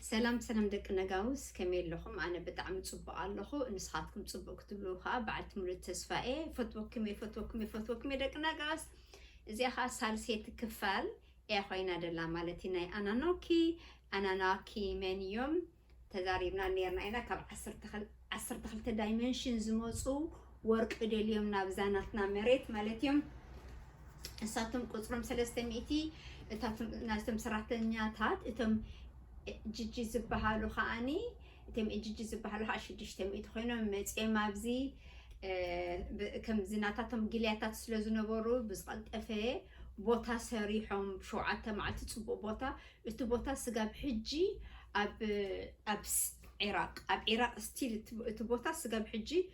ሰላም ሰላም ደቂ ነጋውስ ከመይ ኣለኹም ኣነ ብጣዕሚ ጽቡቅ ኣለኹ ንስኻትኩም ጽቡቅ ክትብሉ ከኣ በዓልቲ ሙሉእ ተስፋ እየ ፈትወኩም እየ ፈትወኩም እየ ፈትወኩም እየ ደቂ ነጋውስ እዚኣ ከኣ ሳልሰይቲ ክፋል እያ ኮይና ደላ ማለት እዩ ናይ ኣናኖኪ ኣናናኪ መን እዮም ተዛሪብና ነርና ኢና ካብ ዓሰርተ ክልተ ዳይመንሽን ዝመፁ ወርቂ ደልዮም ናብዛ ናትና መሬት ማለት እዮም እሳቶም ቁፅሮም ሰለስተ ሚእቲ እታቶም ናይቶም ሰራሕተኛታት እቶም ጂጂ ዝበሃሉ ከዓኒ እቶም ኤጂጂ ዝበሃሉ ከዓ ሽዱሽተ ሚእቲ ኮይኖም መፅኦም ኣብዚ ከምዚ ናታቶም ጊልያታት ስለ ዝነበሩ ብዝቐልጠፈ ቦታ ሰሪሖም ብሸውዓተ መዓልቲ ፅቡቅ ቦታ እቲ ቦታ ስጋብ ሕጂ ኣብ ዒራቅ ኣብ ዒራቅ ስቲል እቲ ቦታ ስጋብ ሕጂ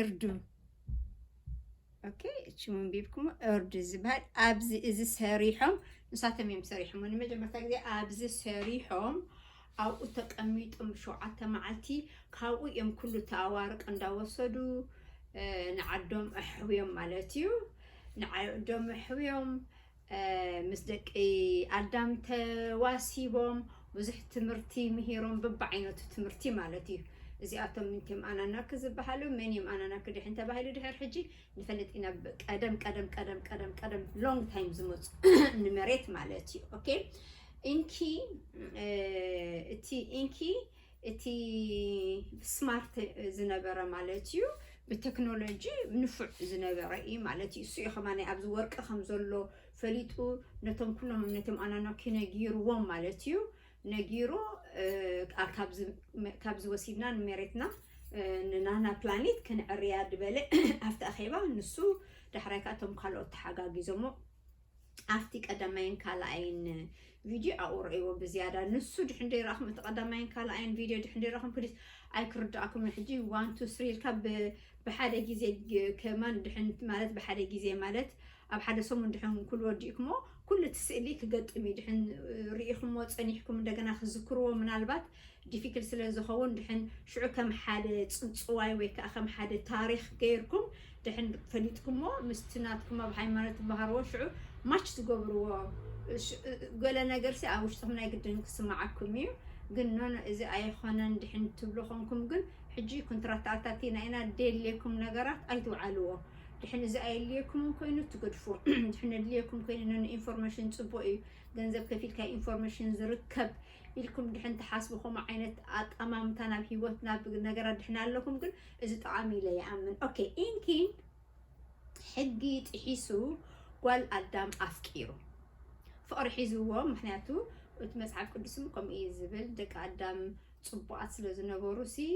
እርዱ ኦኬ እቺ ምንቢብኩም እርዱ ዝበሃል ኣብዚ እዚ ሰሪሖም ንሳቶም እዮም ሰሪሖም ንመጀመርታ ግዜ ኣብዚ ሰሪሖም ኣብኡ ተቀሚጦም ሸውዓተ መዓልቲ ካብኡ እዮም ኩሉ ተኣዋርቅ እንዳወሰዱ ንዓዶም ኣሕውዮም ማለት እዩ ንዓዶም ኣሕውዮም ምስ ደቂ ኣዳም ተዋሲቦም ብዙሕ ትምህርቲ ምሂሮም ብብዓይነቱ ትምህርቲ ማለት እዩ። እዚኣቶም ምንቲም ኣናናኪ ዝበሃሉ መን እዮም ኣናናኪ ድሕን ተባሂሉ ድሕር ሕጂ ንፈልጥ ኢና ቀደም ቀደም ቀደም ቀደም ቀደም ሎንግ ታይም ዝመፁ ንመሬት ማለት እዩ ኦኬ ኢንኪ እቲ ኢንኪ እቲ ስማርት ዝነበረ ማለት እዩ ብቴክኖሎጂ ንፉዕ ዝነበረ እዩ ማለት እዩ እሱ እዩ ከማ ኣብዚ ወርቂ ከም ዘሎ ፈሊጡ ነቶም ኩሎም ነቶም ኣናናኪ ነጊርዎም ማለት እዩ ነጊሩ ካብዚ ወሲድና ንመሬትና ንናና ፕላኔት ክንዕርያ ዝበለ ኣብቲ ኣኼባ ንሱ ዳሕራይ ከዓ እቶም ካልኦት ተሓጋጊዞሞ ኣብቲ ቀዳማይን ካልኣይን ቪድዮ ኣብኡ ረእይዎ ብዝያዳ ንሱ ድሕን ደይረኣኹም እቲ ቀዳማይን ካልኣይን ቪድዮ ድሕን ደይረኹም ፕሊስ ኣይክርዳኣኩምን ሕጂ ዋን ቱ ስሪ ኢልካ ብሓደ ግዜ ከማን ድሕን ማለት ብሓደ ግዜ ማለት ኣብ ሓደ ሰሙን ድሕን ኩሉ ወዲእኩሞ ኩሉ እቲ ስእሊ ክገጥም እዩ ድሕን ርኢኹሞ ፀኒሕኩም እንደገና ክዝክርዎ ምናልባት ዲፊክል ስለ ዝኸውን ድሕን ሽዑ ከም ሓደ ጽውጽዋይ ወይ ከኣ ከም ሓደ ታሪኽ ገይርኩም ድሕን ፈሊጥኩሞ ምስቲ ናትኩም ኣብ ሃይማኖት ትመሃርዎ ሽዑ ማች ትገብርዎ ገለ ነገርሲ ኣብ ውሽጥኹም ናይ ግድን ክስምዓኩም እዩ ግን ኖኖ እዚ ኣይኾነን ድሕን ትብሉ ኮንኩም ግን ሕጂ ኩንትራት ተኣታቲና ኢና ደልየኩም ነገራት ኣይትውዓልዎ ድሕን እዚ ኣየድልየኩምን ኮይኑ ትገድፉ ድሕን ኣድልየኩም ኮይኑ ን ኢንፎርሜሽን ፅቡቅ እዩ ገንዘብ ከፊልካ ኢንፎርሜሽን ዝርከብ ኢልኩም ድሕን ትሓስቡ ከምኡ ዓይነት ኣጣማምታ ናብ ሂወት ናብ ነገራት ድሕን ኣለኩም ግን እዚ ጠቃሚ ኢለ ይኣምን ኦኬ ኢንኪ ሕጊ ጥሒሱ ጓል ኣዳም ኣፍቂሩ ፍቅሪ ሒዝዎ ምክንያቱ እቲ መጽሓፍ ቅዱስም ከምኡ እዩ ዝብል ደቂ ኣዳም ጽቡቃት ስለ ዝነበሩ ሲ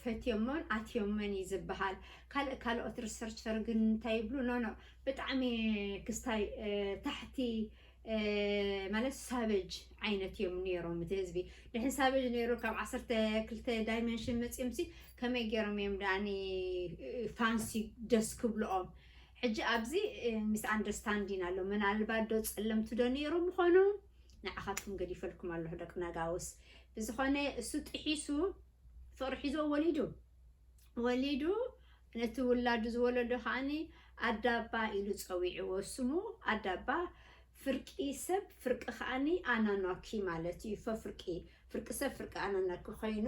ፈትዮሞን ኣትዮመን እዩ ዝበሃል። ካልእ ካልኦት ሪሰርቸር ግን እንታይ ይብሉ ኖ ኖ ብጣዕሚ ክስታይ ታሕቲ ማለት ሳበጅ ዓይነት እዮም ነይሮም እቲ ህዝቢ ድሕን ሳበጅ ነይሩ ካብ ዓሰርተ ክልተ ዳይመንሽን መፂኦምሲ ከመይ ገይሮም እዮም ዳኒ ፋንሲ ደስ ክብልኦም ሕጂ ኣብዚ ሚስ ኣንደርስታንዲን ኣሎ ምናልባት ዶ ፀለምቲ ዶ ነይሮም ምኾኑ ንዓኻትኩም ገዲፈልኩም ኣለኹ ደቂ ነጋውስ ብዝኾነ እሱ ጥሒሱ ፍቕሪ ሒዝዎ ወሊዱ ወሊዱ ነቲ ውላዱ ዝወለዶ ከዓኒ ኣዳባ ኢሉ ፀዊዕዎ ስሙ ኣዳባ ፍርቂ ሰብ ፍርቂ ከዓኒ ኣናኗኪ ማለት እዩ ፈፍርቂ ፍርቂ ሰብ ፍርቂ ኣናናቂ ኮይኑ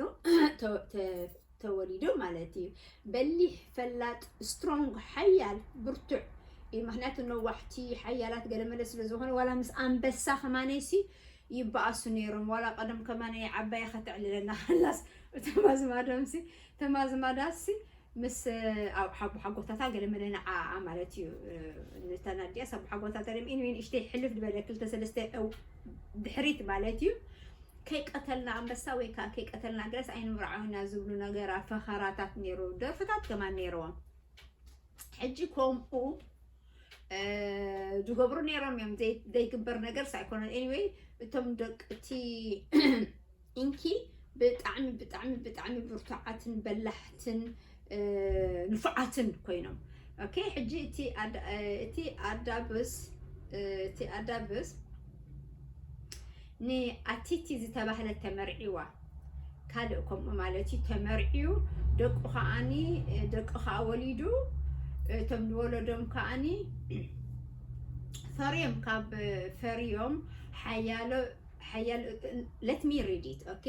ተወሊዱ ማለት እዩ። በሊሕ፣ ፈላጥ፣ strong፣ ሓያል፣ ብርቱዕ፣ እዩ ምክንያቱ ነዋሕቲ፣ ሓያላት፣ ገለመለ ስለ ዝኮኑ ዋላ ምስ ኣንበሳ ከማነይሲ ይበኣሱ ነይሮም ዋላ ቀደም ከማነይ ዓባያ ከተዕልለና ከላስ እቶም ኣዝማዶምሲ እቶም ኣዝማዳትሲ ምስ ኣቦሓጎታታ ገለ መለ ንዓኣ ማለት እዩ ንታ ናድያስ ኣቦሓጎታታ ደም ኢንወይ ንእሽተይ ሕልፍ ድበለ ክልተ ሰለስተ ድሕሪት ማለት እዩ ከይቀተልና ኣንበሳ ወይ ከዓ ከይቀተልና ገለስ ኣይንምርዓው ኢና ዝብሉ ነገራት ፈኸራታት ነይሩ ደርፍታት ከማን ነይርዎም ሕጂ ከምኡ ዝገብሩ ነይሮም እዮም ዘይግበር ነገር ሳይኮነን ኤኒወይ እቶም ደቂ እቲ ኢንኪ ብጣዕሚ ብጣዕሚ ብጣዕሚ ብርቱዓትን በላሕትን ንፉዓትን ኮይኖም ኦኬ ሕጂ እቲ እቲ ኣዳብስ እቲ ኣዳብስ ን ኣቲቲ ዝተባህለት ተመርዒዋ ካልእ ከምኡ ማለት እዩ ተመርዕዩ ደቁ ከዓኒ ደቂ ከኣ ወሊዱ እቶም ዝወለዶም ከዓኒ ፈርዮም ካብ ፈርዮም ሓያሎ ሓያሎ ለት ሚ ሪድ ኢት ኦኬ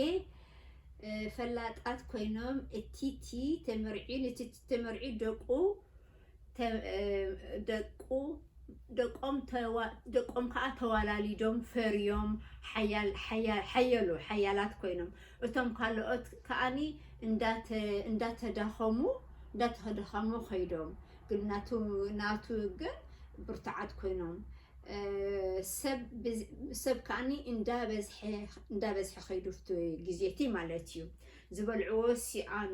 ፈላጣት ኮይኖም እቲቲ ተመርዕዩ ንቲቲ ተመርዕዩ ደቁ ደቁ ደቆም ደቆም ከዓ ተዋላሊዶም ፈርዮም ሓየሉ ሓያላት ኮይኖም እቶም ካልኦት ከዓኒ እንዳተዳኸሙ እንዳተዳኸሙ ከይዶም ግን ናቱ ናቱ ግን ብርቱዓት ኮይኖም ሰብ ከዓኒ እንዳበዝሐ እንዳበዝሐ ከይዱ ግዜቲ ማለት እዩ ዝበልዕዎ ሲኣኑ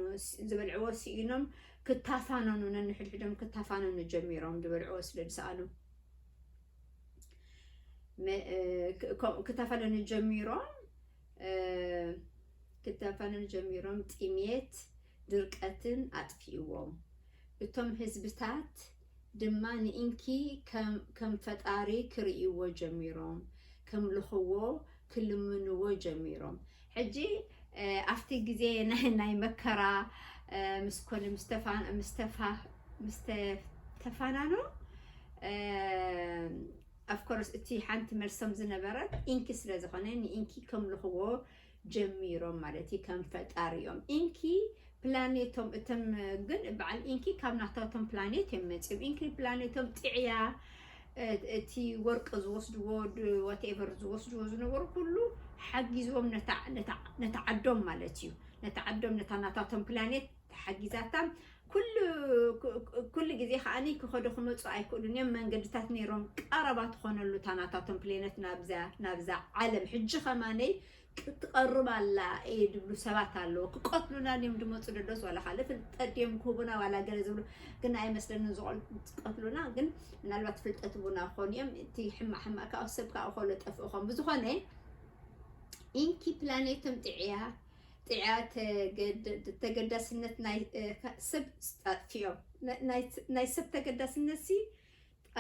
ዝበልዕዎ ሲኢኖም ክታፋነኑ ነንሕድሕዶም ክታፋነኑ ጀሚሮም ዝበልዕዎ ስለ ዝሰኣኑ ክታፋነኑ ጀሚሮም ክታፋነኑ ጀሚሮም ጥሜት ድርቀትን ኣጥፊእዎም እቶም ህዝብታት ድማ ንኢንኪ ከም ፈጣሪ ክርእይዎ ጀሚሮም ከምልኽዎ ክልምንዎ ጀሚሮም ሕጂ ኣብቲ ግዜ ናይ መከራ ምስ ኮነ ምስ ተፋናኑ ኣፍኮርስ እቲ ሓንቲ መልሶም ዝነበረት ኢንኪ ስለ ዝኾነ ንኢንኪ ከምልኽዎ ጀሚሮም ማለት እዩ ከም ፈጣሪኦም ኢንኪ ፕላኔቶም እቶም ግን በዓል ኢንኪ ካብ ናታቶም ፕላኔት እዮም መፅም ኢንኪ ፕላኔቶም ጥዕያ እቲ ወርቂ ዝወስድዎ ዋትኤቨር ዝወስድዎ ዝነበሩ ኩሉ ሓጊዝዎም ነታ ዓዶም ማለት እዩ ነታ ዓዶም ነታ ናታቶም ፕላኔት ሓጊዛታ ኩሉ ኩሉ ግዜ ከኣ ክኸዱ ክመጹ ኣይክእሉን እዮም መንገድታት ነይሮም ቀረባ ትኾነሉ እታ ናታቶም ፕሌነት ናብዛ ናብዛ ዓለም ሕጂ ከማነይ ክትቀርብ ኣላ እየ ድብሉ ሰባት ኣለዎ ክቀትሉና ድዮም ድመፁ ደዶስ ዋላ ካልእ ፍልጠት ድዮም ክህቡና ዋላ ገለ ዝብሉ ግን ኣይመስለንን ዝቀትሉና ግን ምናልባት ፍልጠት ህቡና ክኾኑ እዮም እቲ ሕማቅ ሕማቅ ካብ ሰብ ካብ ኮሎ ጠፍእኾም ብዝኾነ ኢንኪ ፕላኔቶም ጥዕያ ተገዳስነት ናይ ሰብ ኣጥፊኦም ናይ ሰብ ተገዳስነት ሲ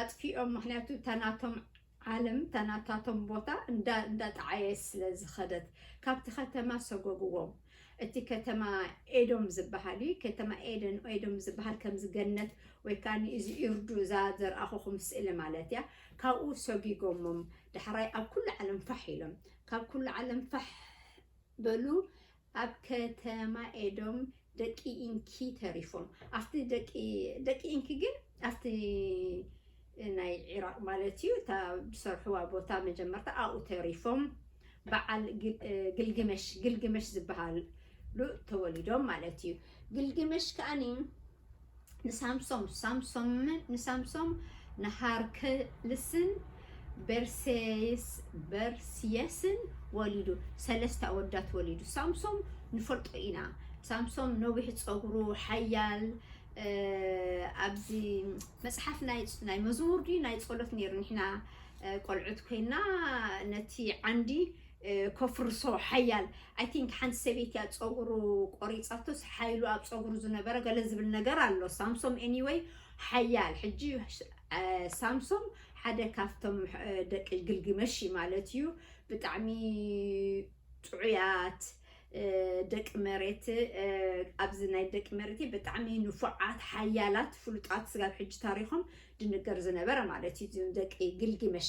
ኣጥፊኦም ምክንያቱ እታ ናቶም ዓለም እታ ናታቶም ቦታ እንዳ እንዳጠዓየት ስለ ዝኸደት ካብቲ ከተማ ሰጎግዎም እቲ ከተማ ኤዶም ዝብሃል እዩ ከተማ ኤደን ኤዶም ዝብሃል ከምዚ ገነት ወይ ከኣኒ እዚ ኢርዱ እዛ ዘርኣኹኹም ስእሊ ማለት እያ ካብኡ ሰጊጎሞም ዳሕራይ ኣብ ኩሉ ዓለም ፋሕ ኢሎም ካብ ኩሉ ዓለም ፋሕ በሉ ኣብ ከተማ ኤዶም ደቂ ኢንኪ ተሪፎም ኣብቲ ደቂ ደቂ ኢንኪ ግን ኣብቲ ናይ ዒራቕ ማለት እዩ እታ ዝሰርሕዋ ቦታ መጀመርታ ኣብኡ ተሪፎም በዓል ግልግመሽ ግልግመሽ ዝበሃሉ ተወሊዶም ማለት እዩ ግልግመሽ ከኣኒ ንሳምሶም ሳምሶምን ንሳምሶም ንሃርክልስን በርሴስበርሲየስን ወሊዱ ሰለስተ ኣወዳት ወሊዱ ሳምሶም ንፈልጦ ኢና ሳምሶም ነዊሕ ፀጉሩ ሓያል ኣብዚ መፅሓፍ ናይ መዝሙር ድዩ ናይ ፀሎት ነይሩ ንሕና ቆልዑት ኮይና ነቲ ዓንዲ ከፍርሶ ሓያል ኣይ ቲንክ ሓንቲ ሰበይቲ እያ ፀጉሩ ቆሪፃቶስ ሓይሉ ኣብ ፀጉሩ ዝነበረ ገለ ዝብል ነገር ኣሎ ሳምሶም ኤኒወይ ሓያል ሕጂ ሳምሶም ሓደ ካብቶም ደቂ ግልግመሽ እዩ ማለት እዩ ብጣዕሚ ጥዑያት ደቂ መሬት ኣብዚ ናይ ደቂ መሬት ብጣዕሚ ንፉዓት ሓያላት ፍሉጣት ስጋብ ሕጂ ታሪኾም ድንገር ዝነበረ ማለት እዩ ደቂ ግልግመሽ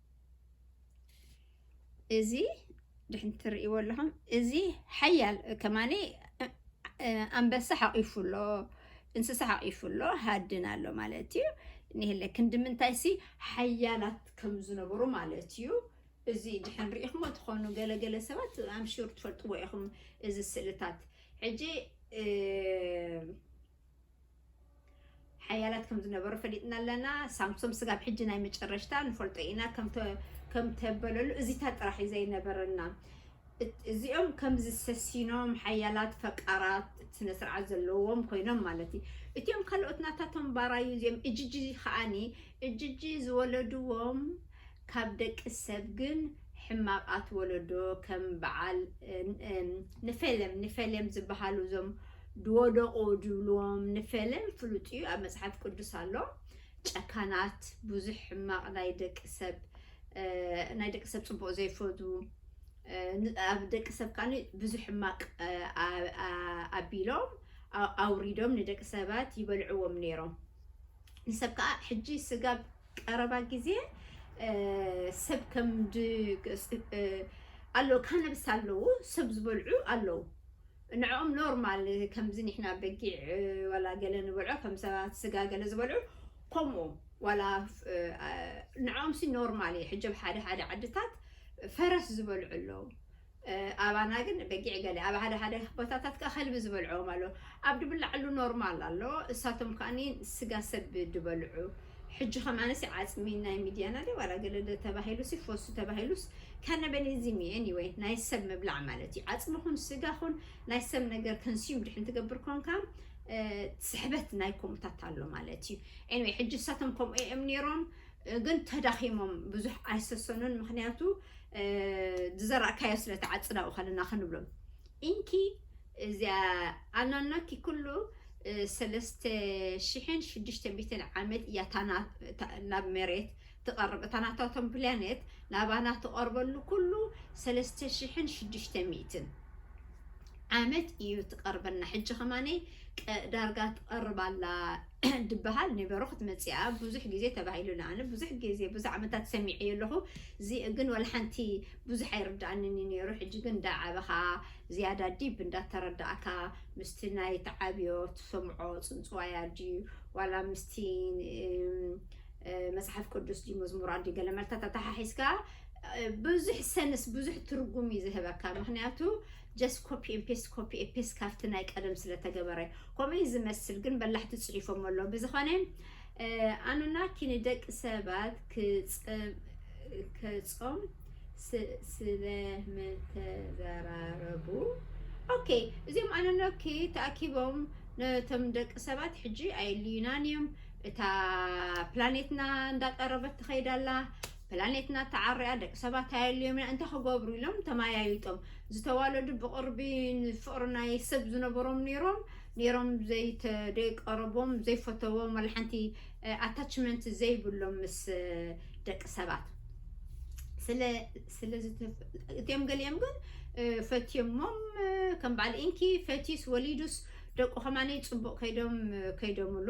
እዚ ድሕን ትርእይዎ ኣለኹም እዚ ሓያል ከማኒ ኣንበሳ ሓቂፉ ኣሎ እንስሳ ሓቂፉ ኣሎ ሃድን ኣሎ ማለት እዩ ንህለ ክንዲ ምንታይ ሲ ሓያላት ከም ዝነበሩ ማለት እዩ እዚ ድሕን ርኢኹሞ ትኾኑ ገለገለ ሰባት ኣምሽር ትፈልጥዎ ኢኹም እዚ ስእልታት ሕጂ ሓያላት ከም ዝነበሩ ፈሊጥና ኣለና። ሳምሶም ስጋብ ሕጂ ናይ መጨረሽታ ንፈልጦ ኢና ከም ተበለሉ እዚታት ጥራሕ እዩ ዘይነበረና። እዚኦም ከም ዝሰሲኖም ሓያላት ፈቃራት ስነ ስርዓት ዘለዎም ኮይኖም ማለት እዩ። እቲኦም ካልኦት ናታቶም ባራዩ እዚኦም እጅጂ ከኣኒ እጅጂ ዝወለድዎም ካብ ደቂ ሰብ ግን ሕማቃት ወለዶ ከም በዓል ንፌሌም ንፌሌም ዝባሃሉ እዞም ድወደቁ ድብልዎም ንፌሌም ፍሉጥ እዩ ኣብ መጽሓፍ ቅዱስ ኣሎ ጨካናት ብዙሕ ሕማቅ ናይ ደቂ ሰብ ናይ ደቂ ሰብ ጽቡቅ ዘይፈትዉ ኣብ ደቂ ሰብ ካኒ ብዙሕ ሕማቅ ኣቢሎም ኣውሪዶም ንደቂ ሰባት ይበልዕዎም ነይሮም ንሰብ ከዓ ሕጂ ስጋብ ቀረባ ግዜ ሰብ ከም ድ ኣሎ ካነብስ ኣለዉ ሰብ ዝበልዑ ኣለዉ ንዕኦም ኖርማል ከምዚ ንሕና በጊዕ ዋላ ገለ ንበልዖ ከም ሰባት ስጋ ገለ ዝበልዑ ከምኡ ዋላ ንዕኦምሲ ኖርማል ኢዩ ሕጂ ኣብ ሓደ ሓደ ዓድታት ፈረስ ዝበልዑ ኣለዉ ኣባና ግን በጊዕ ገለ ኣብ ሓደ ሓደ ቦታታት ከኣ ከልቢ ዝበልዕዎም ኣሎ ኣብ ድብላዕሉ ኖርማል ኣሎ እሳቶም ከኣ ስጋ ሰብ ድበልዑ ሕጂከ ኣነሲ ዓጽሚ ናይ ምድያና ድዩ ዋላ ገለ ዶ ተባሂሉሲ ፎሱ ተባሂሉስ ካነበኒዝም እዩ ኤኒወይ ናይ ሰብ ምብላዕ ማለት እዩ ዓጽሚ ኩን ስጋ ኩን ናይ ሰብ ነገር ከንስዩም ድሕን ትገብር ኮንካ ስሕበት ናይ ኮምታት ኣሎ ማለት እዩ ኤኒወይ ሕጂ እሳቶም ከምኡ እዬም ኔሮም ግን ተዳኺሞም ብዙሕ ኣይሰሰኑን ምክንያቱ ዝዘራእካዮ ስለ ትዓፅድ ኣብኡ ከለና ክንብሎም ኢንኪ እዚያ ኣናናኪ ኩሉ ሰለስተ ሽሕን ሽዱሽተ ሚትን ዓመት እያ ናብ መሬት ትቐርብ እታ ናታቶም ፕላኔት ናባና ትቐርበሉ ኩሉ ሰለስተ ሽሕን ሽዱሽተ ሚትን ዓመት እዩ ትቐርበና ሕጂ ከማኒ ዳርጋ ትቐርብ ኣላ ድበሃል ኔበሩ ክትመጽኣ ብዙሕ ግዜ ተባሂሉኒ ኣነ ብዙሕ ግዜ ብዙሕ ዓመታት ሰሚዐዮ ኣለኹ ዚእ ግን ወላ ሓንቲ ብዙሕ ኣይርድኣንን እዩ ኔሩ ሕጂ ግን እንዳ ዓበኻ ዝያዳ ዲብ እንዳ ተረድኣካ ምስቲ ናይ ትዓብዮ ትሰምዖ ጽንጽዋያ ድዩ ዋላ ምስቲ መጽሓፍ ቅዱስ ድዩ መዝሙራት ድዩ ገለ መልታት ኣተሓሒዝካ ብዙሕ ሰንስ ብዙሕ ትርጉም እዩ ዝህበካ ምክንያቱ ጀስት ኮፒ ኤን ፔስት ኮፒ ኤን ፔስት ካብቲ ናይ ቀደም ስለ ተገበረ ከምኡ እዩ ዝመስል ግን በላሕቲ ጽሒፎሞ ኣለዉ ብዝኾነ ኣኑናኪ ንደቂ ሰባት ክጸም ስለ ምተዘራረቡ ኦኬ እዚኦም ኣኑናኪ ተኣኪቦም ነቶም ደቂ ሰባት ሕጂ ኣየልዩናን እዮም እታ ፕላኔትና እንዳቀረበት ትኸይድ ኣላ ፕላኔትና ተዓሪያ ደቂ ሰባት ኣየልዮምና እንታይ ክገብሩ ኢሎም ተማያይጦም ዝተዋለዱ ብቅርቢ ንፍቅሪ ናይ ሰብ ዝነበሮም ነይሮም ነይሮም ዘይተደይቀረቦም ዘይፈተዎም ዋላ ሓንቲ ኣታችመንት ዘይብሎም ምስ ደቂ ሰባት ስለ ስለ እትዮም ገሊኦም ግን ፈትዮሞም ከም በዓል ኢንኪ ፈትዩስ ወሊዱስ ደቁ ከማነይ ፅቡቅ ከይዶም ከይዶምሉ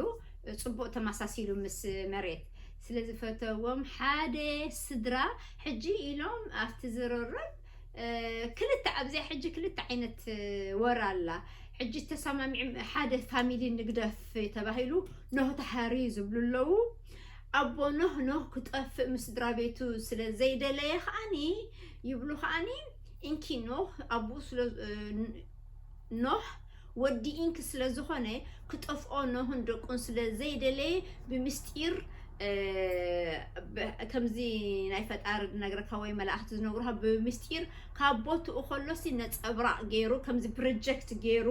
ፅቡቅ ተመሳሲሉ ምስ መሬት ስለ ዝፈተዎም ሓደ ስድራ ሕጂ ኢሎም ኣብቲ ዝርርብ ክልተ ኣብዚኣ ሕጂ ክልተ ዓይነት ወረ ኣላ ሕጂ ተሰማሚዕም ሓደ ፋሚሊ ንግደፍ ተባሂሉ ኖህ ተሓርዩ ዝብሉ ኣለዉ ኣቦ ኖህ ኖህ ክጠፍእ ምስ ስድራ ቤቱ ስለ ዘይደለየ ከዓኒ ይብሉ ከዓኒ እንኪ ኖህ ኣቦኡ ስለ ኖህ ወዲ ኢንክ ስለ ዝኾነ ክጠፍኦ ኖህን ደቁን ስለ ዘይደለየ ብምስጢር ከምዚ ናይ ፈጣሪ ዝነግረካ ወይ መላእክቲ ዝነግሩካ ብምስጢር ካብ ቦትኡ ከሎሲ ነጸብራቅ ገይሩ ከምዚ ፕሮጀክት ገይሩ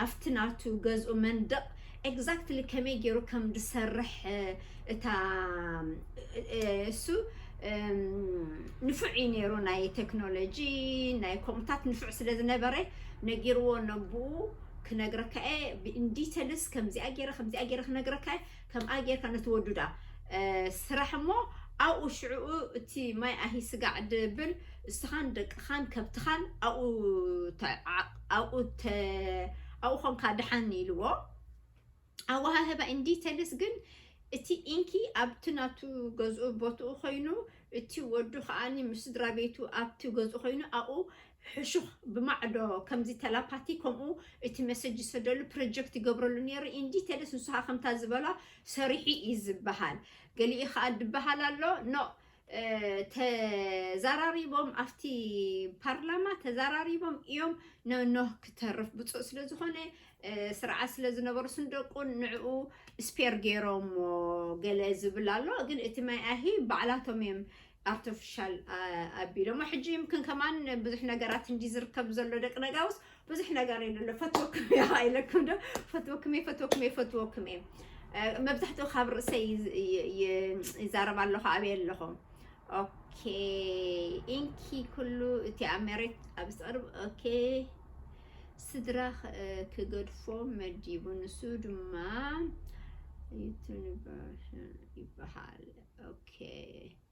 ኣብቲ ናቱ ገዝኡ መንደቅ ኤግዛክትሊ ከመይ ገይሩ ከም ዝሰርሕ እታ እሱ ንፉዕ እዩ ነይሩ ናይ ተክኖሎጂ ናይ ኮምታት ንፉዕ ስለ ዝነበረ ነጊርዎ ነቡኡ ክነግረካ እየ ብኢንዲተልስ ከምዚኣ ገይረ ከምዚኣ ገይረ ክነግረካ እየ ከምኣ ገይርካ ነቲ ወዱዳ ስራሕ እሞ ኣብኡ ሽዕኡ እቲ ማይ ኣሂ ስጋዕ ድብል እስኻን ደቅኻን ከብትኻን ኣብኡ ኣብኡ ኮንካ ደሓን ኢልዎ። ኣወሃህባ ኢንዲተልስ ግን እቲ ኢንኪ ኣብቲ ናቱ ገዝኡ ቦትኡ ኮይኑ እቲ ወዱ ከኣኒ ምስ ስድራቤቱ ኣብቲ ገዝኡ ኮይኑ ኣብኡ ሕሹኽ ብማዕዶ ከምዚ ተላፓቲ ከምኡ እቲ መሰጅ ዝሰደሉ ፕሮጀክት ይገብረሉ ነይሩ ኢንዲተልስ ንሱ ከኣ ከምታ ዝበላ ሰሪሑ እዩ ዝበሃል ገሊኡ ከኣ ድበሃል ኣሎ ኖእ ተዛራሪቦም ኣብቲ ፓርላማ ተዛራሪቦም እዮም ንኖህ ክተርፍ ብፁዕ ስለ ዝኾነ ስርዓት ስለ ዝነበሩ ስንደቁን ንዕኡ ስፔር ገይሮሞ ገለ ዝብል ኣሎ ግን እቲ ማይ ኣሂ ባዕላቶም እዮም ኣርቲፊሻል ኣቢሎሞ ሕጂ ይምክን ከማን ብዙሕ ነገራት እንዲ ዝርከብ ዘሎ ደቂ ነጋውስ ብዙሕ ነገር ኢሉ ኣሎ ፈትወኩም እየ ከዓ ኢለኩም ዶ ፈትወኩም እየ ፈትወኩም እየ ፈትወኩም እየ እ፣ መብዛሕትኡ ካብ ርእሰይ ይዝ- ይ- ይ- ይዛረብ ኣለኹ ኣብየ ኣለኹ ኦኬ ኢንኪ ኩሉ እቲ ኣብ መሬት ኣብ ዝተቕርብ ኦኬ ስድራ ክ- እ፣ ክገድፎ መዲቡ ንሱ ድማ ዩቱበር ይበሃል ኦኬ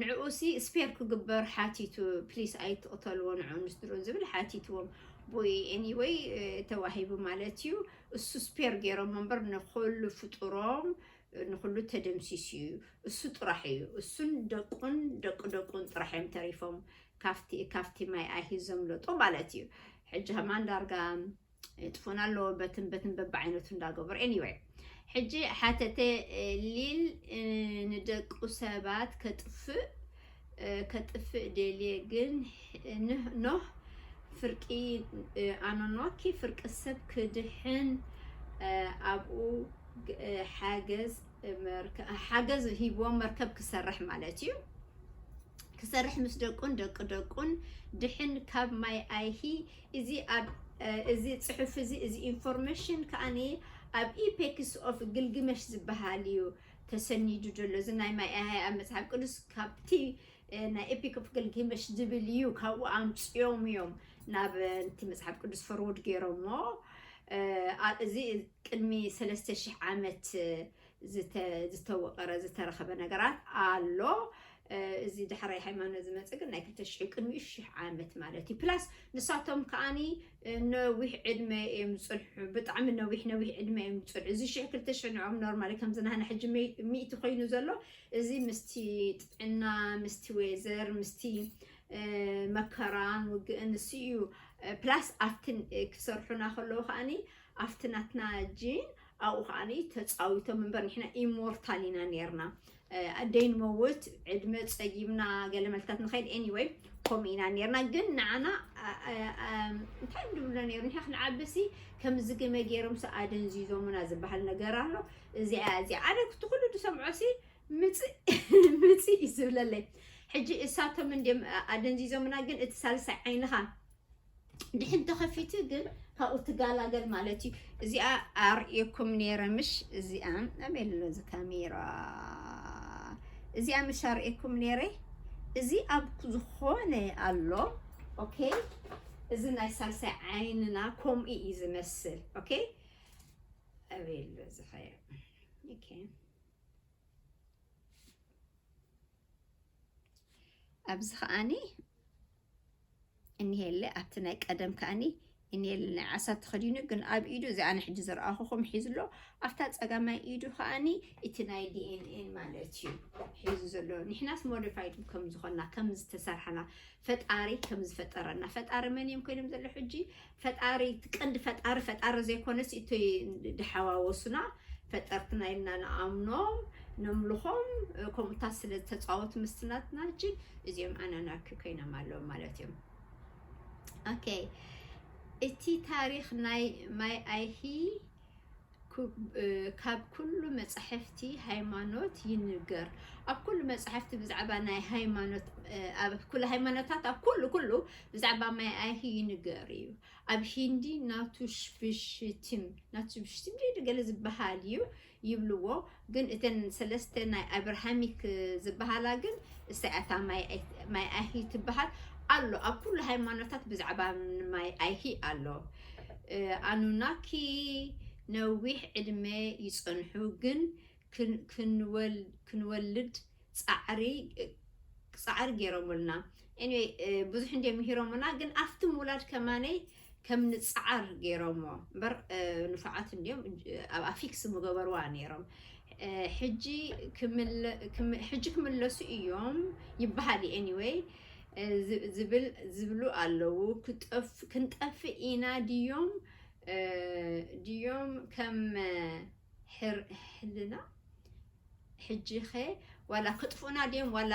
ንዕኡሲ ስፔር ክግበር ሓቲቱ ፕሊስ ኣይትቅተልዎ ንዕኡን ንስድርኡን ዝብል ሓቲትዎም ቡይ ኤኒወይ ተዋሂቡ ማለት እዩ እሱ ስፔር ገይሮሞ እምበር ንኩሉ ፍጡሮም ንኩሉ ተደምሲሱ እዩ እሱ ጥራሕ እዩ እሱን ደቁን ደቂ ደቁን ጥራሕ እዮም ተሪፎም ካብቲ ካብቲ ማይ ኣይሂዞም ለጦ ማለት እዩ ሕጂ ከማን ዳርጋ የጥፎን ኣሎ በትን በትን በብዓይነቱ እንዳገበሩ ኤኒወይ ሕጂ ሓተተ ሊል ንደቁ ሰባት ከጥፍእ ከጥፍእ ደልየ ግን ኖህ ፍርቂ ኣኖኖኪ ፍርቂ ሰብ ክድሕን ኣብኡ ሓገዝ ሓገዝ ሂቦ መርከብ ክሰርሕ ማለት እዩ ክሰርሕ ምስ ደቁን ደቂ ደቁን ድሕን ካብ ማይ ኣይሂ እዚ ኣብ እዚ ጽሑፍ እዚ እዚ ኢንፎርመሽን ከኣ ኣብ ኢፔክስ ኦፍ ግልግመሽ ዝበሃል እዩ ተሰኒዱ ዘሎ እዚ ናይ ማይ ኣሃይ ኣብ መጽሓፍ ቅዱስ ካብቲ ናይ ኤፒክ ኦፍ ግልግመሽ ዝብል እዩ ካብኡ ኣምጽኦም እዮም ናብ እቲ መጽሓፍ ቅዱስ ፈርውድ ገይሮሞ እዚ ቅድሚ ሰለስተ ሽሕ ዓመት ዝተወቐረ ዝተረኸበ ነገራት ኣሎ። እዚ ዳሕራይ ሃይማኖት ዝመፀ ግን ናይ ክልተ ሽሕ ቅድሚኡ ሽሕ ዓመት ማለት እዩ ፕላስ ንሳቶም ከዓኒ ነዊሕ ዕድመ እዮም ዝፅንሑ ብጣዕሚ ነዊሕ ነዊሕ ዕድመ እዮም ዝፅንሑ እዚ ሽሕ ክልተ ሽሕ ንዕኦም ኖርማሊ ከምዚ ናህና ሕጂ ሚእቲ ኮይኑ ዘሎ እዚ ምስቲ ጥዕና ምስቲ ወዘር ምስቲ መከራን ውግእን ንሱ እዩ ፕላስ ኣብቲ ክሰርሑና ከለዉ ከዓኒ ኣብቲ ናትና ጂን ኣብኡ ከኣ ተጻዊቶም እምበር ንሕና ኢሞርታል ኢና ኔርና ኣደይ ንመውት ዕድመ ጸጊብና ገለ መልታት ንኸይድ ኤኒወይ ከምኡ ኢና ኔርና ግን ንዓና እንታይ እዮም ድብሎ ኔሩ ንሕና ክንዓብሲ ከም ዝግመ ገይሮም ሲ ኣደንዚዞሙና ዝበሃል ነገር ኣሎ እዚኣ እዚኣ ኣነ ክቲ ኩሉ ድሰምዖ ሲ ምጽእ እዩ ዝብለለይ ሕጂ እሳቶም እንድም ኣደንዚዞምና ግን እቲ ሳልሳይ ዓይንኻ ድሕን ተኸፊቱ ግን ካብኡ ትጋላገል ማለት እዩ እዚኣ ኣርእየኩም ነይረ ምሽ እዚኣ ኣበይ ኣሎ እዚ ካሜራ እዚኣ ምሽ ኣርእየኩም ነይረ እዚ ኣብ ዝኾነ ኣሎ ኦኬ እዚ ናይ ሳልሳይ ዓይንና ከምኡ እዩ ዝመስል ኦኬ ኣበይ ኣሎ እዚ ኸያ ኦኬ ኣብዚ ከዓኒ እኒሄለ ኣብቲ ናይ ቀደም ከኣኒ እኒሄለ ናይ ዓሳ ተኸዲኑ ግን ኣብ ኢዱ እዚ ኣነ ሕጂ ዘርኣኹኹም ሒዙ ኣሎ ኣብታ ጸጋማይ ኢዱ ከኣኒ እቲ ናይ ዲኤንኤን ማለት እዩ ሒዙ ዘሎ ንሕናስ ሞዲፋይድ ከም ዝኾና ከም ዝተሰርሐና ፈጣሪ ከም ዝፈጠረና ፈጣሪ መን እዮም ኮይኖም ዘሎ ሕጂ ፈጣሪ እቲ ቀንዲ ፈጣሪ ፈጣሪ ዘይኮነስ እቲ ድሓዋወሱና ፈጠርትና ኢልና ንኣምኖም ነምልኾም ከምኡታት ስለ ዝተጻወቱ ምስቲ ናትና ሕጂ እዚኦም ኣናናኪ ኮይኖም ኣለዉ ማለት እዮም ኦኬ እቲ ታሪክ ናይ ማይ ኣይሂ ካብ ኩሉ መጻሕፍቲ ሃይማኖት ይንገር ኣብ ኩሉ መጻሕፍቲ ብዛዕባ ናይ ሃይማኖት ኣብ ኩሉ ሃይማኖታት ኣብ ኩሉ ኩሉ ብዛዕባ ማይ ኣይሂ ይንገር እዩ ኣብ ሂንዲ ናቱ ሽብሽቲም ናቱ ሽብሽቲም ገለ ዝበሃል እዩ ይብልዎ ግን እተን ሰለስተ ናይ ኣብርሃሚክ ዝብሃላ ግን እሳ እያ እታ ማይ ኣይሂ ትብሃል ኣሎ ኣብ ኩሉ ሃይማኖታት ብዛዕባ ማይ ኣይሂ ኣሎ ኣኑናኪ ነዊሕ ዕድመ ይጸንሑ ግን ክንወልድ ጻዕሪ ጌሮሙልና ኤኒወይ ብዙሕ እንድዮም ምሂሮሙና ግን ኣፍቲ ምውላድ ከማነይ ከም ንጽዓር ገይሮሞ እምበር ንፉዓት እንድዮም ኣብ ኣፊክስ ምገበርዋ ነይሮም ሕጂ ክምለሱ እዮም ይበሃል እዩ ኤኒወይ ዝብል ዝብሉ ኣለዉ ክንጠፍእ ኢና ድዮም ድዮም ከም ሕልና ሕጂኸ ዋላ ክጥፉኡና ድዮም ዋላ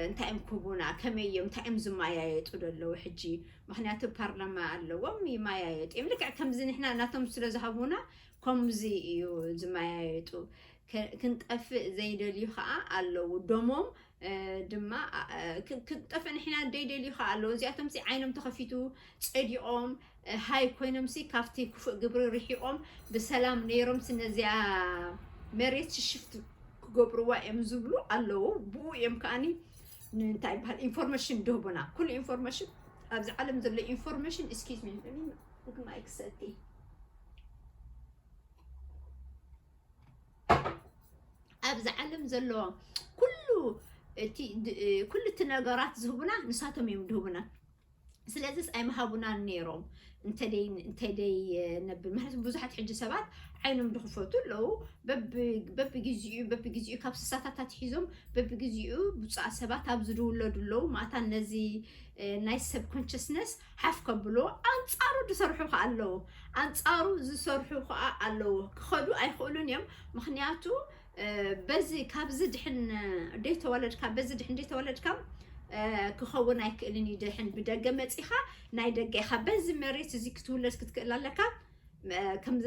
እንታይ እዮም ክህቡና ከመይ እዮም እንታይ እዮም ዝመያየጡ ደለዉ ሕጂ ምኽንያቱ ፓርላማ ኣለዎም ይመያየጡ እዮም ልክዕ ከምዚ ንሕና ናቶም ስለ ዝሃቡና ከምዚ እዩ ዝመያየጡ ክንጠፍእ ዘይደልዩ ከዓ ኣለዉ ደሞም ድማ ክንጠፍእ ንሕና ደይደልዩ ከዓ ኣለዉ እዚኣቶምሲ ዓይኖም ተኸፊቱ ፀዲቖም ሃይ ኮይኖምሲ ካብቲ ክፉእ ግብሪ ርሒቆም ብሰላም ነይሮምሲ ነዚኣ መሬት ሽሽፍት ክገብርዋ እዮም ዝብሉ ኣለዉ ብኡ እዮም ከዓኒ እንታይ ይበሃል ኢንፎርሜሽን ድህቡና ኩሉ ኢንፎርሜሽን ኣብዚ ዓለም ዘሎ ኢንፎርሜሽን እስኪዝ ሚ ማይ ክሰቲ ኣብዚ ዓለም ዘሎ ኩሉ እቲ ኩሉ እቲ ነገራት ዝህቡና ንሳቶም እዮም ድህቡና ስለዚስ ኣይምሃቡናን ነይሮም እንተ ደይ ነብል ምክንያቱ ብዙሓት ሕጂ ሰባት ዓይኖም ድኽፈቱ ኣለዉ በብግዜኡ በብግዜኡ ካብ ስሳታት ኣትሒዞም በብግዜኡ ብፁዓት ሰባት ኣብ ዝድውለዱ ኣለዉ ማእታ ነዚ ናይ ሰብ ኮንሽስነስ ሓፍ ከብሎ ኣንፃሩ ዝሰርሑ ከዓ ኣለዉ ኣንፃሩ ዝሰርሑ ከዓ ኣለዉ ክኸዱ ኣይኽእሉን እዮም ምክንያቱ በዚ ካብዚ ድሕን ደይተወለድካ በዚ ድሕን ደይተወለድካ ክኸውን ኣይክእልን እዩ ድሕን ብደገ መጺኻ ናይ ደገ ኢኻ በዚ መሬት እዚ ክትውለድ ክትክእል ኣለካ ከምዚ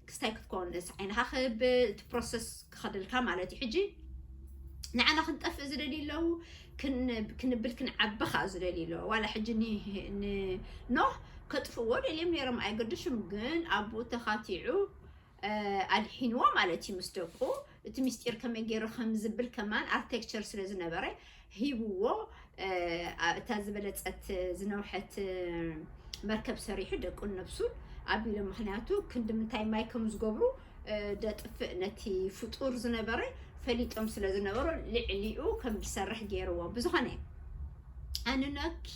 ክስታይ ክትኮንስ ዓይንኻ ክብል እቲ ፕሮሰስ ክኸደልካ ማለት እዩ ሕጂ ንዓና ክንጠፍእ ዝደልዩ ኣለዉ ክንብል ክንዓቢ ከዓ ዝደልዩ ኣለዎ ዋላ ሕጂ ንኖህ ከጥፍዎ ደልዮም ነይሮም ኣይገድሹም ግን ኣብኡ ተኻቲዑ ኣድሒንዎ ማለት እዩ ምስ ደቁ እቲ ምስጢር ከመይ ገይሩ ከም ዝብል ከማን ኣርቴክቸር ስለ ዝነበረ ሂብዎ እታ ዝበለጸት ዝነውሐት መርከብ ሰሪሑ ደቁን ነብሱን ኣቢሎም ምክንያቱ ክንዲ ምንታይ ማይ ከም ዝገብሩ ደጥፍእ ነቲ ፍጡር ዝነበረ ፈሊጦም ስለ ዝነበሩ ልዕሊኡ ከም ዝሰርሕ ገይርዎ ብዝኾነ ኣንኖኪ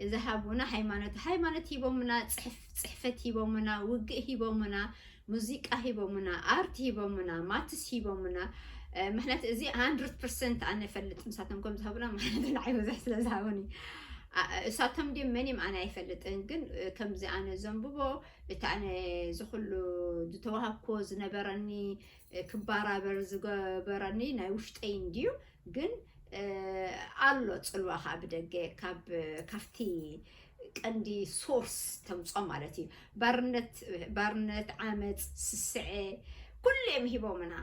እዛ ሃቡና ሃይማኖት ሃይማኖት ሂቦምና ፅሕፍ ጽሕፈት ሂቦሙና፣ ውግእ ሂቦሙና፣ ሙዚቃ ሂቦሙና፣ ኣርት ሂቦሙና፣ ማትስ ሂቦሙና፣ ምክንያቱ እዚ ሃንድርት ፐርሰንት ኣነ እፈልጥ ንሳቶም ከም ዝሃቡና ማለት ንዓይ ብዙሕ ስለ ዝሃቡኒ እሳቶም ድም መን እዮም ኣነ ኣይፈልጥን፣ ግን ከምዚ ኣነ ዘንብቦ እቲ ኣነ ዝኩሉ ዝተዋሃብኩዎ ዝነበረኒ ክባራበር ዝገበረኒ ናይ ውሽጠይ እንድዩ ግን ኣሎ ጽልዋ ከኣ ብደገ ካብ ካብቲ ቀንዲ ሶርስ ተምጾ ማለት እዩ ባርነት ባርነት ዓመጽ ስስዐ ኩሉ እዮም ሂቦምና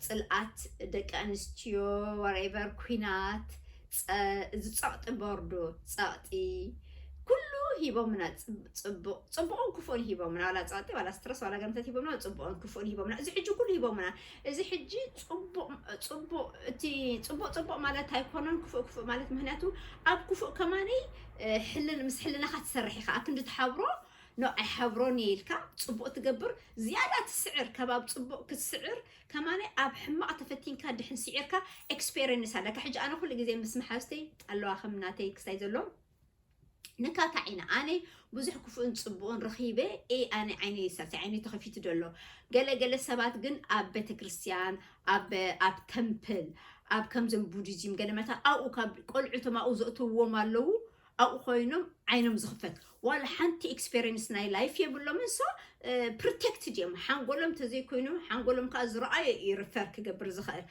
ጽልኣት ደቂ ኣንስትዮ ወሬቨር ኩናት እዚ ጸቕጢ ቦርዶ ጸቕጢ ኩሉ ሂቦምና ጽቡቕ ጽቡቕን ክፉእን ሂቦምና ዋላ ጸቕጢ ዋላ ስትረስ ዋላ ገምተት ሂቦምና ጽቡቕን ክፉእን ሂቦምና እዚ ሕጂ ኩሉ ሂቦምና እዚ ሕጂ ጽቡቅ ጽቡቅ እቲ ጽቡቅ ጽቡቅ ማለት ኣይኮነን ክፉእ ክፉእ ማለት ምክንያቱ ኣብ ክፉእ ከማኒ ሕልን ምስ ሕልናኻ ትሰርሕ ኢኻ ኣክንዲ ትሓብሮ ኖ ኣይሓብሮን እየ ኢልካ ጽቡቅ ትገብር ዝያዳ ትስዕር ካብ ኣብ ጽቡቅ ክትስዕር ከማኒ ኣብ ሕማቅ ተፈቲንካ ድሕን ስዒርካ ኤክስፔሪንስ ኣለካ ሕጂ ኣነ ኩሉ ግዜ ምስ መሓዝተይ ኣለዋ ከም ናተይ ክስታይ ዘሎ ንካታዕ ኢና ኣነ ብዙሕ ክፉእን ፅቡቕን ረኺበ ኤ ኣነ ዓይነይ ሳልሳይ ዓይነይ ተኸፊቱ ዶ ኣሎ ገለገለ ሰባት ግን ኣብ ቤተክርስትያን ኣብ ኣብ ተምፕል ኣብ ከምዞም ቡዲዝም ገለ መታ ኣብኡ ካብ ቆልዑቶም ኣብኡ ዘእትውዎም ኣለዉ ኣብኡ ኮይኖም ዓይኖም ዝኽፈት ዋላ ሓንቲ ኤክስፔሪንስ ናይ ላይፍ የብሎምን ሶ ፕሮቴክትድ እዮም ሓንጎሎም ተዘይኮይኑ ሓንጎሎም ከዓ ዝረኣዩ እዩ ሪፈር ክገብር ዝኽእል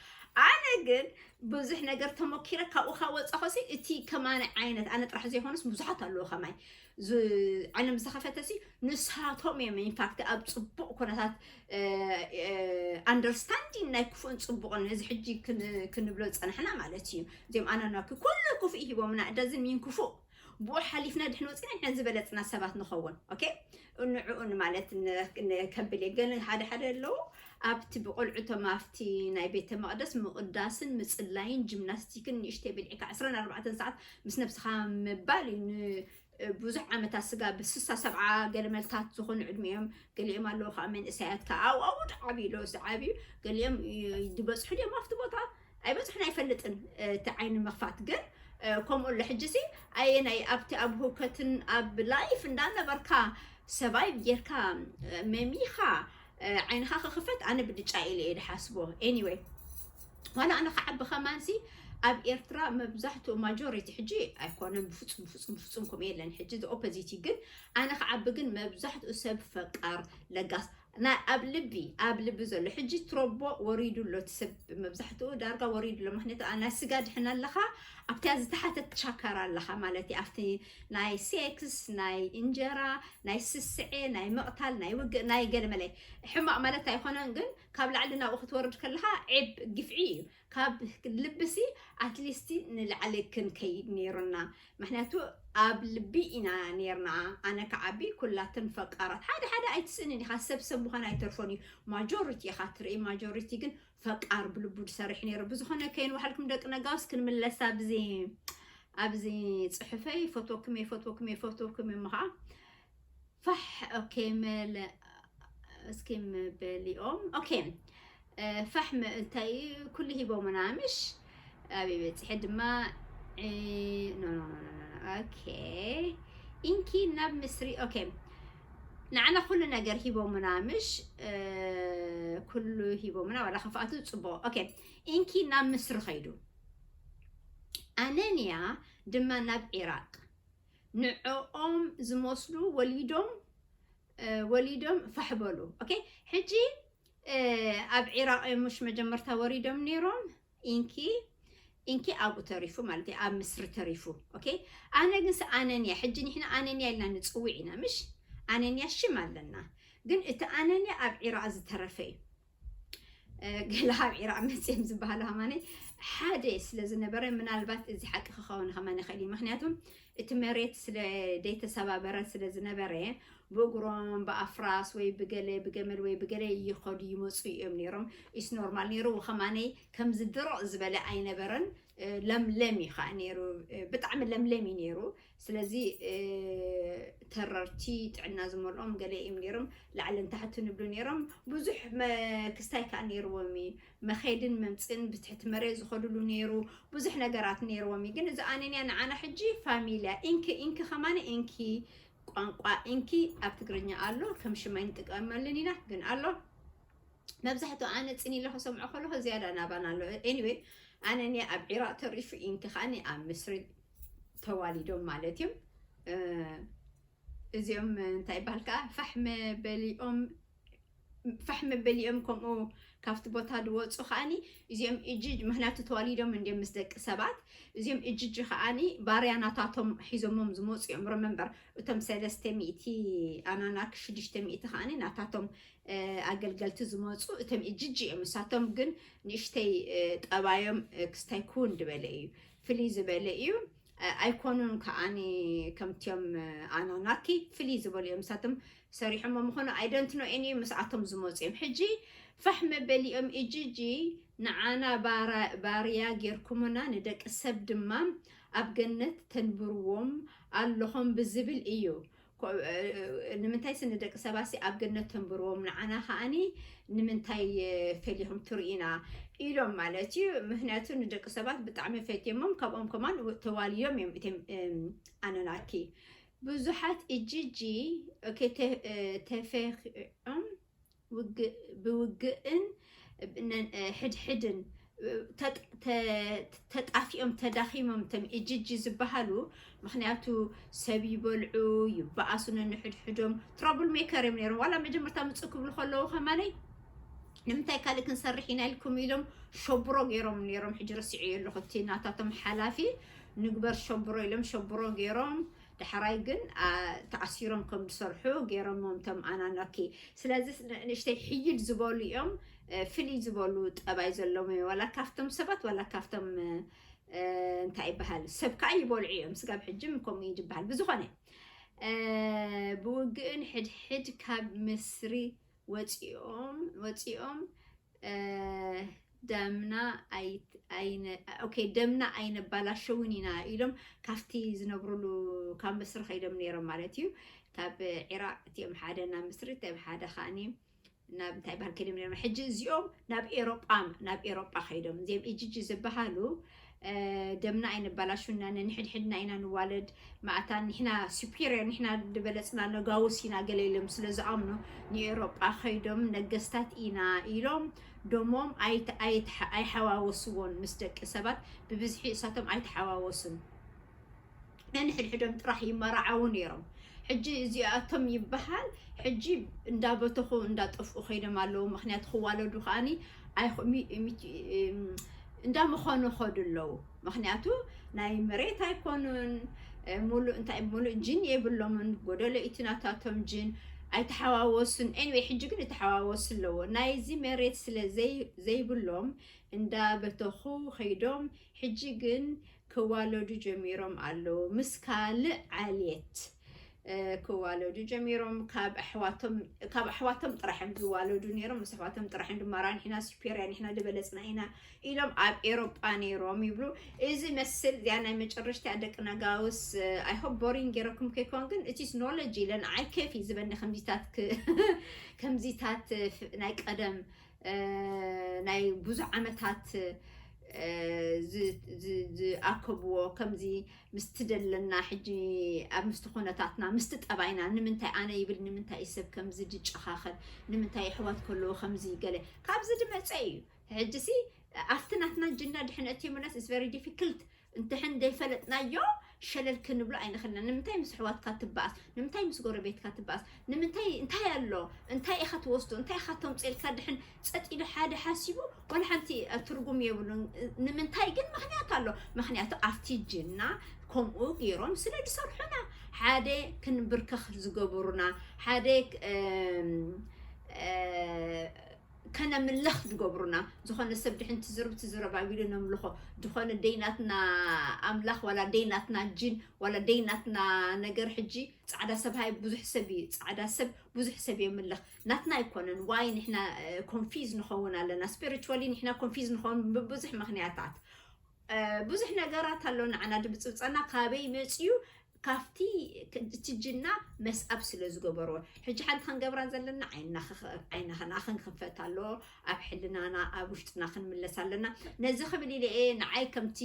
ኣነ ግን ብዙሕ ነገር ተሞኪረ ካብኡ ካብ ወፃኹሲ እቲ ከማኒ ዓይነት ኣነ ጥራሕ ዘይኮነስ ብዙሓት ኣለዉ ከማይ ዓይኖም ዝተኸፈተሲ ንሳቶም እዮም ኢንፋክት ኣብ ፅቡቕ ኩነታት ኣንደርስታንዲን ናይ ክፉእን ፅቡቕን እዚ ሕጂ ክንብሎ ዝፀናሕና ማለት እዩ እዚኦም ኣናናኪ ኩሉ ክፉእ ሂቦምና እደዝን ሚን ክፉእ ብኡ ሓሊፍና ድሕን ወፂና ንሕና ዝበለፅና ሰባት ንኸውን ኦኬ ንዕኡ ማለት ከብል እየ ገለ ሓደ ሓደ ኣለዉ ኣብቲ ብቆልዑቶም ኣብቲ ናይ ቤተ መቅደስ ምቕዳስን ምፅላይን ጂምናስቲክን ንእሽተይ ብልዕካ 24 ሰዓት ምስ ነብስኻ ምባል እዩ ን- ብዙሕ ዓመታት ስጋ ብስሳ ሰብዓ ገለ መልታት ዝኾኑ ዕድሚኦም ገሊኦም ኣለዉ ከዓ መንእሰያት ከዓ ኣብኡ ኣብኡ ድዓብዩ ለውሲ ዓብዩ ገሊኦም ይ- ዝበፅሑ ድዮም ኣብቲ ቦታ ኣይበጽሑን ኣይፈልጥን እቲ ዓይኒ ምኽፋት ግን ከምኡ ኣሎ ሕጂሲ ኣየናይ ኣብቲ ኣብ ህውከትን ኣብ ላይፍ እንዳነበርካ ሰባይብ ጌርካ መሚኻ ዓይንኻ ክኽፈት ኣነ ብልጫ ኢለ እየ ድሓስቦ ኤኒወይ ዋላ ኣነ ክዓቢ ከማንሲ ኣብ ኤርትራ መብዛሕትኡ ማጆሪቲ ሕጂ ኣይኮነን ብፍፁም ብፍፁም ብፍፁም ከምኡ የለን ሕጂ ኦፖዚቲ ግን ኣነ ክዓቢ ግን መብዛሕትኡ ሰብ ፈቃር ለጋስ ናይ ኣብ ልቢ ኣብ ልቢ ዘሎ ሕጂ ትሮቦ ወሪዱ ኣሎ እቲ ሰብ መብዛሕትኡ ዳርጋ ወሪዱ ኣሎ ምክንያቱ ናይ ስጋ ድሕን ኣለካ ኣብቲያ ዝተሓተት ቻካራ ኣለካ ማለት እዩ ኣብቲ ናይ ሴክስ ናይ እንጀራ ናይ ስስዔ ናይ ምቕታል ናይ ውግእ ናይ ገለመለ ሕማቕ ማለት ኣይኮነን ግን ካብ ላዕሊ ናብኡ ክትወርድ ከለካ ዔብ ግፍዒ እዩ ካብ ልብሲ ኣትሊስቲ ንላዕሊ ክንከይድ ነይሩና ምክንያቱ ኣብ ልቢ ኢና ነይርና ኣነ ክዓቢ ኩላትን ፈቃራት ሓደ ሓደ ኣይትስእንን ኢካ ሰብ ሰብ ምኳን ኣይተርፎን እዩ ማጆሪቲ ኢካ ትርኢ ማጆሪቲ ግን ፈቃር ብልቡ ዝሰርሕ ነይሩ ብዝኮነ ከይን ዋሓልኩም ደቂ ነጋውስ ክንምለስ ኣብዚ ኣብዚ ፅሑፈይ ፈትወኩም እየ ፈትወኩም እየ ፈትወኩም እየ ምከዓ ፋሕ ኦኬ መለ እስኪ መበሊኦም ኦኬ ፋሕ እንታይ እዩ ኩሉ ሂቦምና ምሽ ኣብይ በፂሐ ድማ ኖ ኖ ኖ ኦኬ ኢንኪ ናብ ምስሪ ኦኬ ንዓና ኩሉ ነገር ሂቦምና ምሽ ኩሉ ሂቦምና ዋላ ከፍኣቱ ፅቡቅ ኦኬ ኢንኪ ናብ ምስሪ ከይዱ ኣነንያ ድማ ናብ ዒራቅ ንዕኦም ዝመስሉ ወሊዶም ወሊዶም ፋሕ በሉ ኦኬ ሕጂ ኣብ ዒራቅ እዮም ሙሽ መጀመርታ ወሪዶም ነይሮም ኢንኪ ኢንኪ ኣብኡ ተሪፉ ማለት እዩ ኣብ ምስሪ ተሪፉ ኦኬ ኣነ ግንስ ኣነንያ ሕጂ ንሕና ኣነንያ ኢልና ንፅውዕ ኢና ምሽ ኣነንያ ሽም ኣለና ግን እቲ ኣነንያ ኣብ ዒራቅ ዝተረፈ እዩ ገላሃብ ዒራቅ መፅም ዝበሃሉ ሃማነ ሓደ ስለዝነበረ ምናልባት እዚ ሓቂ ክኸውን ከማን ይኽእል እዩ ምክንያቱም እቲ መሬት ስለ ደይተሰባበረ ስለዝነበረ ብእግሮም ብኣፍራስ ወይ ብገለ ብገመል ወይ ብገለ ይኸዱ ይመፁ እዮም ነይሮም ኢስ ኖርማል ነይሩ ከማነይ ከምዚ ድርቕ ዝበለ ኣይነበረን ለምለም እዩ ከዓ ነይሩ ብጣዕሚ ለምለም እዩ ነይሩ ስለዚ ተረርቲ ጥዕና ዝመልኦም ገለ እዩም ነይሮም ላዕልን ታሕትን ይብሉ ነይሮም ብዙሕ ክስታይ ካኣ ነይርዎም እዩ መኼድን መምጽእን ብትሕቲ መሬት ዝኸድሉ ነይሩ ብዙሕ ነገራት ነይርዎም እዩ ግን እዚ ኣነንያ ንዓና ሕጂ ፋሚልያ ኢንኪ ኢንኪ ከማን ኢንኪ ቋንቋ ኢንኪ ኣብ ትግርኛ ኣሎ ከም ሽም ኣይንጥቀመሉን ኢና ግን ኣሎ መብዛሕትኡ ኣነ ጽን ኢለ ክሰምዖ ከለኹ ዝያዳ ናባና ኣሎ ኤኒዌይ ኣነንያ ኣብ ዒራቕ ተሪፉ ኢንኪ ከኣ ኣብ ምስሪ ተዋሊዶም ማለት እዩም እዚኦም እንታይ ይበሃል ከዓ ፋሕመ በሊኦም ፋሕመ በሊኦም ከምኡ ካብቲ ቦታ ዝወፁ ከዓኒ እዚኦም እጅጅ ምክንያቱ ተዋሊዶም እንዲም ምስ ደቂ ሰባት እዚኦም እጅጅ ከዓኒ ባርያናታቶም ሒዞሞም ዝመፁ እዮም ረመንበር እቶም ሰለስተ ሚእቲ ኣናናክ ሽዱሽተ ሚእቲ ከዓኒ ናታቶም ኣገልገልቲ ዝመፁ እቶም እጅጅ እዮም ንሳቶም ግን ንእሽተይ ጠባዮም ክስታይ ክውን ዝበለ እዩ ፍልይ ዝበለ እዩ ኣይኮኑን ከኣ ከምትዮም ኣና ናኪ ፍልይ ዝበሉ እዮም ንሳቶም ሰሪሖሞ ምኾኑ ኣይደንት ኖ ኤኒ ምስኣቶም ዝመፁ እዮም ሕጂ ፋሕ መበሊኦም እጅጂ ንዓና ባርያ ጌርኩሙና ንደቂ ሰብ ድማ ኣብ ገነት ተንብርዎም ኣለኹም ብዝብል እዩ ንምንታይሲ ንደቂ ሰባትሲ ኣብ ገነት ተንብርዎም ንዓና ከኣኒ ንምንታይ ፈሊኹም ትርእዩና ኢሎም ማለት እዩ ምክንያቱ ንደቂ ሰባት ብጣዕሚ ፈትዮሞም ካብኦም ከማን ተዋልዮም እዮም እቴም ኣነናኪ ብዙሓት እጅጂ ተፈኺዖም ውግእ ብውግእን ሕድሕድን ተጣፊኦም ተዳኺሞም እቶም ኢጅጂ ዝበሃሉ ምኽንያቱ ሰብ ይበልዑ ይበኣሱ ነንሕድሕዶም ትራብል ሜከር እዮም ነይሮም ዋላ መጀመርታ ምፅእ ክብሉ ከለዉ ከማነይ ንምንታይ ካልእ ክንሰርሕ ኢና ኢልኩም ኢሎም ሸብሮ ገይሮም ነይሮም ሕጂ ረሲዑ ኣለኹ እቲ ናታቶም ሓላፊ ንግበር ሸብሮ ኢሎም ሸብሮ ገይሮም ዳሕራይ ግን ተኣሲሮም ከም ዝሰርሑ ጌሮሞም ቶም ኣናናኪ ስለዚ ንእሽተይ ሕይል ዝበሉ እዮም ፍልይ ዝበሉ ጠባይ ዘለዎም እዮም ዋላ ካብቶም ሰባት ዋላ ካብቶም እንታይ ይበሃል ሰብ ከዓ ይበልዑ እዮም ስጋብ ሕጅም ከምኡ እዩ ዝበሃል ብዝኾነ ብውግእን ሕድሕድ ካብ ምስሪ ወፂኦም ወፂኦም ደምና ኣይነባላሸውን ኢና ኢሎም ካብቲ ዝነብሩሉ ካብ ምስሪ ከይዶም ነይሮም ማለት እዩ ካብ ዒራቅ እቲኦም ሓደ ናብ ምስሪ እቲኦም ሓደ ከዓኒ ናብ እንታይ ባህል ከይዶም ነይሮም ሕጂ እዚኦም ናብ ኤሮጳ ናብ ኤሮጳ ከይዶም እዚኦም ኢጂጂ ዝበሃሉ ደምና ኣይነባላሹና ነንሕድሕድና ኢና ንዋለድ ማእታ ንሕና ሱፔሪየር ንሕና ድበለፅና ነጋውስ ኢና ገለ ኢሎም ስለ ዝኣምኑ ንኤሮጳ ከይዶም ነገስታት ኢና ኢሎም ደሞም ኣይሓዋወስዎን ምስ ደቂ ሰባት ብብዝሒ እሳቶም ኣይተሓዋወሱን ነንሕድሕዶም ጥራሕ ይመራዓዉ ነይሮም ሕጂ እዚኣቶም ይበሃል ሕጂ እንዳበተኹ እንዳጠፍኡ ከይዶም ኣለዉ ምኽንያቱ ክዋለዱ ከኣኒ እንዳመኸኑ ኸዱ ኣለዉ ምኽንያቱ ናይ መሬት ኣይኮኑን ሙሉእ እንታይ ሙሉእ ጅን የብሎምን ጎደሎ ኢቲ ናታቶም ጅን ኣይተሓዋወሱን ኤኒወይ ሕጂ ግን ይተሓዋወሱ ኣለዎ ናይዚ መሬት ስለ ዘይብሎም እንዳበተኹ ከይዶም ሕጂ ግን ክዋለዱ ጀሚሮም ኣለዉ ምስ ካልእ ዓልየት ክዋለዱ ጀሚሮም ካብ ኣሕዋቶም ካብ ኣሕዋቶም ጥራሕ እዮም ዝዋለዱ ነይሮም ምስ ኣሕዋቶም ጥራሕ እዮም ድማራ ንሕና ሱፔርያ ንሕና ዝበለጽና ኢና ኢሎም ኣብ ኤሮጳ ነይሮም ይብሉ እዚ መስል እዚኣ ናይ መጨረሽታ ደቂ ነጋውስ ኣይሆፕ ቦሪንግ ገይረኩም ከይኮን ግን እቲስ ኖሎጂ ኢለን ዓይ ኬፍ እዩ ዝበኒ ከምዚታት ክ- ከምዚታት ፍ- ናይ ቀደም ናይ ብዙሕ ዓመታት ዝኣከብዎ ከምዚ ምስቲ ዘለና ሕጂ ኣብ ምስቲ ኩነታትና ምስቲ ጠባይና ንምንታይ ኣነ ይብል ንምንታይ እዩ ሰብ ከምዚ ዝጨኻኸን ንምንታይ የሕዋት ከለዉ ከምዚ ገለ ካብዚ ዝመጸ እዩ ሕጂሲ ኣብቲ ናትና ጅና ድሕን ኣትዩምናስ ኢትስ ቨሪ ዲፊክልት እንተሕን ዘይፈለጥናዮ ሸለል ክንብሎ ኣይንኽእልን። ንምንታይ ምስ ኣሕዋትካ ትበኣስ? ንምንታይ ምስ ጎረቤትካ ትበኣስ? ንምንታይ እንታይ ኣሎ? እንታይ ኢኻ ትወስዶ? እንታይ ኢኻ ተምጽኦ? ኢልካ ድሕን ጸጥ ኢሉ ሓደ ሓሲቡ ዋላ ሓንቲ ትርጉም የብሉን። ንምንታይ ግን ምኽንያት ኣሎ። ምኽንያቱ ኣብቲ ጅና ከምኡ ገይሮም ስለ ዝሰርሑና ሓደ ክንብርከኽ ዝገበሩና ሓደ ከነምልኽ ድገብሩና ዝኾነ ሰብ ድሕን ትዝርብ ትዝረብ ኣቢሉ ነምልኾ ድኾነ ደይ ናትና ኣምላኽ ዋላ ደይ ናትና ጂን ዋላ ደይ ናትና ነገር ሕጂ ጻዕዳ ሰብ ሃይ ብዙሕ ሰብ እዩ ጻዕዳ ሰብ ብዙሕ ሰብ የምልኽ ናትና ኣይኮነን ዋይ ንሕና ኮንፊዝ ንኸውን ኣለና ስፒሪትዋሊ ንሕና ኮንፊዝ ንኸውን ብብዙሕ ምኽንያታት ብዙሕ ነገራት ኣሎ ንዓና ድብጽብጸና ካበይ መጽዩ ካፍቲ እቲ ጅና መስኣብ ስለ ዝገበሮ ሕጂ ሓንቲ ክንገብራ ዘለና ዓይንና ዓይንና ክንክፈት ኣሎ ኣብ ሕልናና ኣብ ውሽጥና ክንምለስ ኣለና ነዚ ክብል ኢለ እየ ንዓይ ከምቲ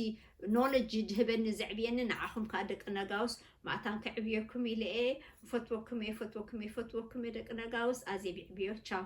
ኖሎጂ ድህበኒ ዘዕብየኒ ንዓኹም ከዓ ደቂ ነጋውስ ማእታን ከዕብየኩም ኢለ እየ ፈትወኩም እየ ፈትወኩም እየ ፈትወኩም እየ ደቂ ነጋውስ ኣዜ ብዕብዮ ቻው